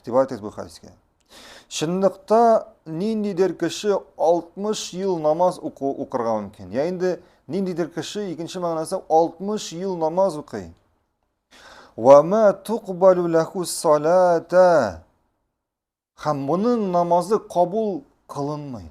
Игътибар итегез бу хәдискә. Чынлыкта ниндидер кеше 60 ел намаз уку укырга мөмкин. Я инде ниндидер кеше икенче мәгънәсе 60 ел намаз укый. Ва ма туқбалу лаху салата. Хәм моның намазы кабул кылынмый.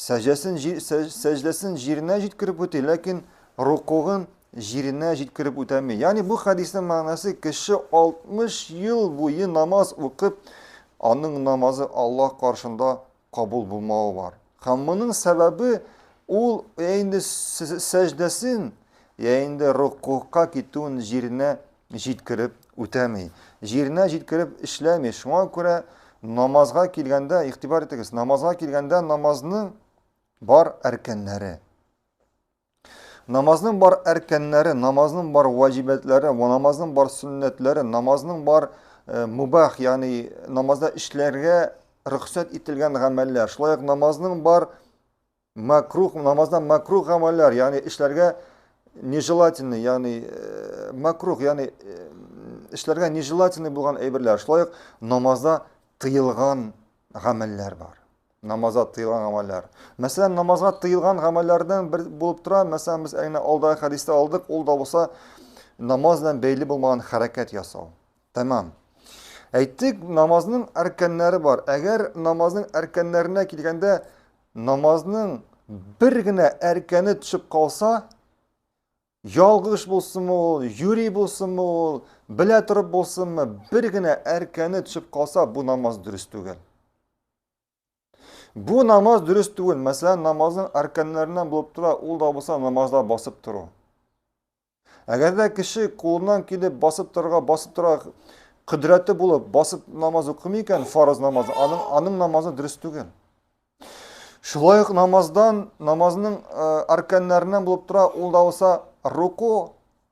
Сәҗдәсен җир, сәҗдәсен җиренә җиткереп үти, ләкин рукугын җиренә җиткереп үтәми. Ягъни бу хәдиснең мәгънәсе кеше 60 ел буе намаз укып, аның намазы Аллаһ каршында кабул булмавы бар. Һәм моның сәбәбе ул инде сәҗдәсен, я инде рукугка китүен җиренә җиткереп үтәми, җиренә җиткереп эшләми. Шуңа күрә намазга килгәндә, игътибар итегез, намазга килгәндә намазның бар әркәннәре. Намазның бар әркәннәре, намазның бар ваҗибәтләре, намазның бар сөннәтләре, намазның бар э, мубах, ягъни намазда эшләргә рөхсәт ителгән гамәлләр, шулай ук намазның бар Макрух намаздан макрух гамәлләр, ягъни эшләргә нежелательный, ягъни э, макрух, ягъни э, эшләргә нежелательный булган әйберләр. Шулай ук намазда тыелган гамәлләр бар. Намазда тыелган гамәлләр. Мәсәлән, намазга тыелган гамәлләрдән бер булып тора. Мәсәлән, без әнә алдагы хәдистә алдык, ул да булса намаз белән бәйле булмаган хәрәкәт ясау. Тәмам. Әйттек, намазның әркәннәре бар. Әгәр намазның әркәннәренә килгәндә, намазның бер генә әркәне төшеп калса, ялгыш булсынмы ул, юри булсынмы ул, белә торып булсынмы, бер генә әркәне төшеп калса, бу намаз дөрес түгел. Бу намаз дөрес түгел. Мәсәлән, намазның арканнарыннан булып тора, ул да булса намазда басып тору. Әгәр дә кеше кулыннан килеп басып торырга, басып торырга кодрәте булып, басып намаз укымый икән, фарыз намазы, аның, аның намазы дөрес түгел. Шулай ук намаздан, намазның ә, э, арканнарыннан булып тора, ул да булса руку,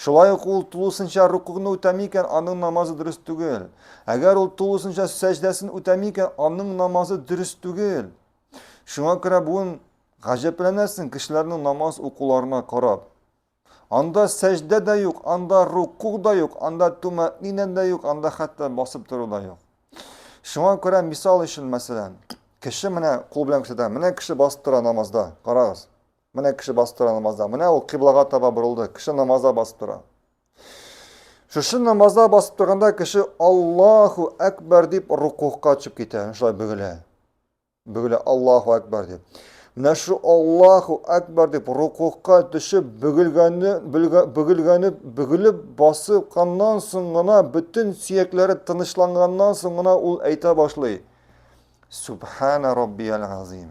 Шулай ук ул тулысынча рукугны үтәми икән, аның намазы дөрес түгел. Әгәр ул тулысынча сәҗдәсен үтәми икән, аның намазы дөрес түгел. Шуңа күрә бүген гаҗәпләнәсең кешеләрнең намаз укуларына карап. Анда сәҗдә дә юк, анда рукуг да юк, анда тумәтнинә дә юк, анда хәтта басып тору да юк. Шуңа күрә мисал өчен, мәсәлән, кеше менә кул белән күрсәтә, менә кеше басып тора намазда, карагыз. Менә кеше басып тора намазда. Менә ул кыйблага таба борылды. Кеше намазда басып тора. Шушы намазда басып торганда кеше Аллаху әкбәр дип рукугка төшеп китә. Шулай бөгелә. Бөгелә Аллаху әкбәр дип. Менә шу Аллаху әкбәр дип рукугка төшеп бөгелгәне бөгелгәне бөгелеп басып каннан соң гына бөтен сөякләре тынычланганнан соң гына ул әйтә башлый. Субхана раббияль азим.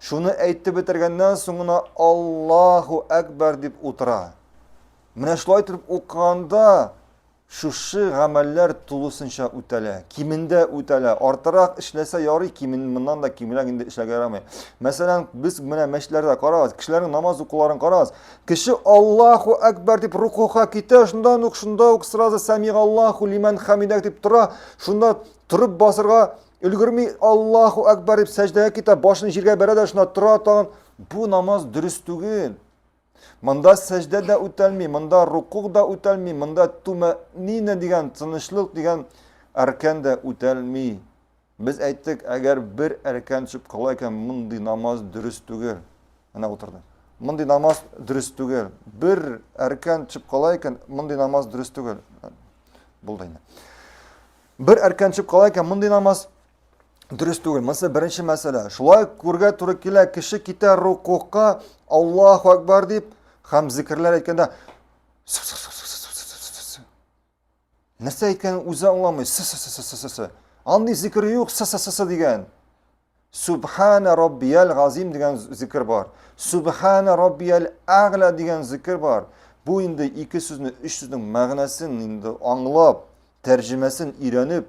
Шуны әйтеп бетергәннән соң гына Аллаһу әкбәр дип утыра. Менә шулай итеп укыганда шушы гамәлләр тулысынча үтәлә, кимендә үтәлә. Артырак эшләсә ярый, кимин моннан да кимрәк инде эшләргә ярамый. Мәсәлән, без менә мәчетләрдә карагыз, кешеләрнең намаз укуларын карагыз. Кеше Аллаһу әкбәр дип рукуга китә, шундан ук шунда ук сразу сәмигаллаһу лиман хамидак дип тора, шунда торып басырга Өлгерми Аллаһу Акбар дип сәҗдәгә китә, башын җиргә бәрә дә шунда тора тагын. Бу намаз дөрес түгел. Монда сәҗдә дә үтәлми, монда рукук да үтәлми, монда тумәнина дигән тынычлык дигән әркән дә үтәлми. Без әйттек, әгәр бер әркән төшеп кала икән, мондый намаз дөрес түгел. Менә утырды. Мондый намаз дөрес түгел. Бер әркән төшеп кала икән, мондый намаз дөрес түгел. Булды инде. Бер әркән төшеп кала икән, мондый намаз дөрес түгел. Монысы беренче мәсьәлә. Шулай күргә туры килә, кеше китә рукуга, Аллаһу акбар дип, һәм зикерләр әйткәндә Нәрсә әйткәнен үзе аңламый. Сы-сы-сы-сы-сы-сы. Андый зикер юк, сы-сы-сы-сы дигән. Субхана Раббияль Газим дигән зикер бар. Субхана Раббияль Агла дигән зикер бар. Бу инде ике сүзне, өч сүзнең мәгънәсен инде аңлап, тәрҗемәсен өйрәнеп,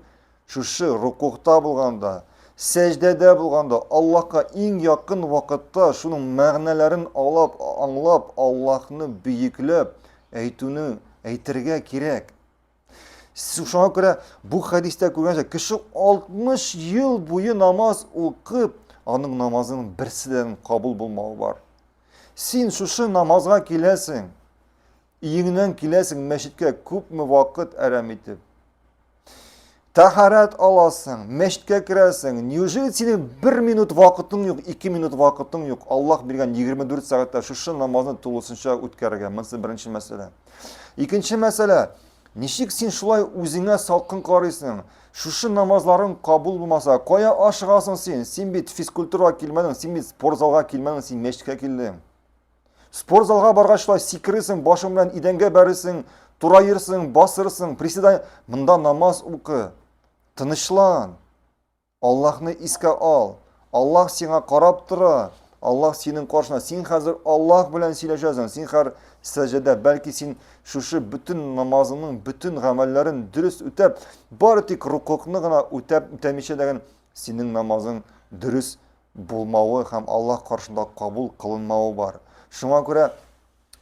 шушы рукукта булганда, сәҗдәдә булганда, Аллаһка иң якын вакытта шуның мәгънәләрен алып, аңлап, Аллаһны бөекләп әйтүне әйтергә кирәк. Шуңа күрә бу хәдистә күргәнчә, кеше 60 ел буе намаз укып, аның намазының берсидән кабул булмавы бар. Син шушы намазга киләсең, иеңнән киләсең мәчеткә күпме вакыт әрәм итеп. Тәһарәт аласың, мәчеткә керәсең. Неужели синең бер минут вакытың юк, ике минут вакытың юк? Аллах биргән 24 сәгатьтә шушы намазны тулысынча үткәрергә. Монысы беренче мәсьәлә. Икенче мәсьәлә, ничек син шулай үзеңә салкын карыйсың? Шушы намазларың кабул булмаса, кая ашыгасың син? Син бит физкультурага килмәдең, син бит спортзалга килмәдең, син мәчеткә килдең. Спортзалга баргач шулай сикересең, башың белән идәнгә бәресең, тураерсың, басырсың, приседай, монда намаз укы. Тынычлан. Аллаһны искә ал! Аллаһ сиңа карап тора! Аллаһ синең каршына, син хәзер Аллаһ белән сөйләшәсең, син хәр сәҗәдә, бәлки син шушы бөтен намазыңның бөтен гамәлләрен дөрес үтәп, бары тик рукукны гына үтәп үтәмичә дәген, синең намазың дөрес булмавы һәм Аллаһ каршында кабул кылынмавы бар. Шуңа күрә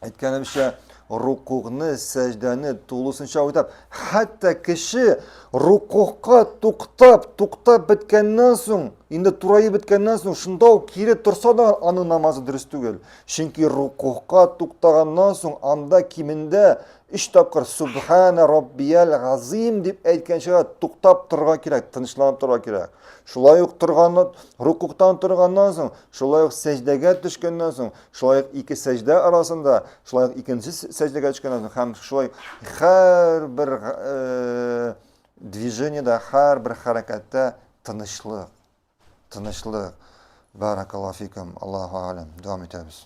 әйткәнемчә, рукугны, сәҗдәне тулысынча үтәп, хәтта кеше рукугка туктап, туктап беткәннән соң, инде тураеп беткәннән соң, шунда ук кире торса да аның намазы дөрес түгел. Чөнки рукугка туктаганнан соң анда кимендә 3 тапкыр субхана раббиял газим дип әйткәнчә туктап торырга кирәк, тынычланып торырга кирәк. Шулай ук торган рукуктан торганнан соң, шулай ук сәҗдәгә төшкәннән соң Шулай ук ике сәҗдә арасында, шулай ук икенче сәҗдәгә төшкәннән соң һәм шулай һәрбер э, движениедә, һәрбер хәрәкәттә тынычлык. Тынычлык. Баракаллаһу фикум. Аллаһу алям. Дәвам итәбез.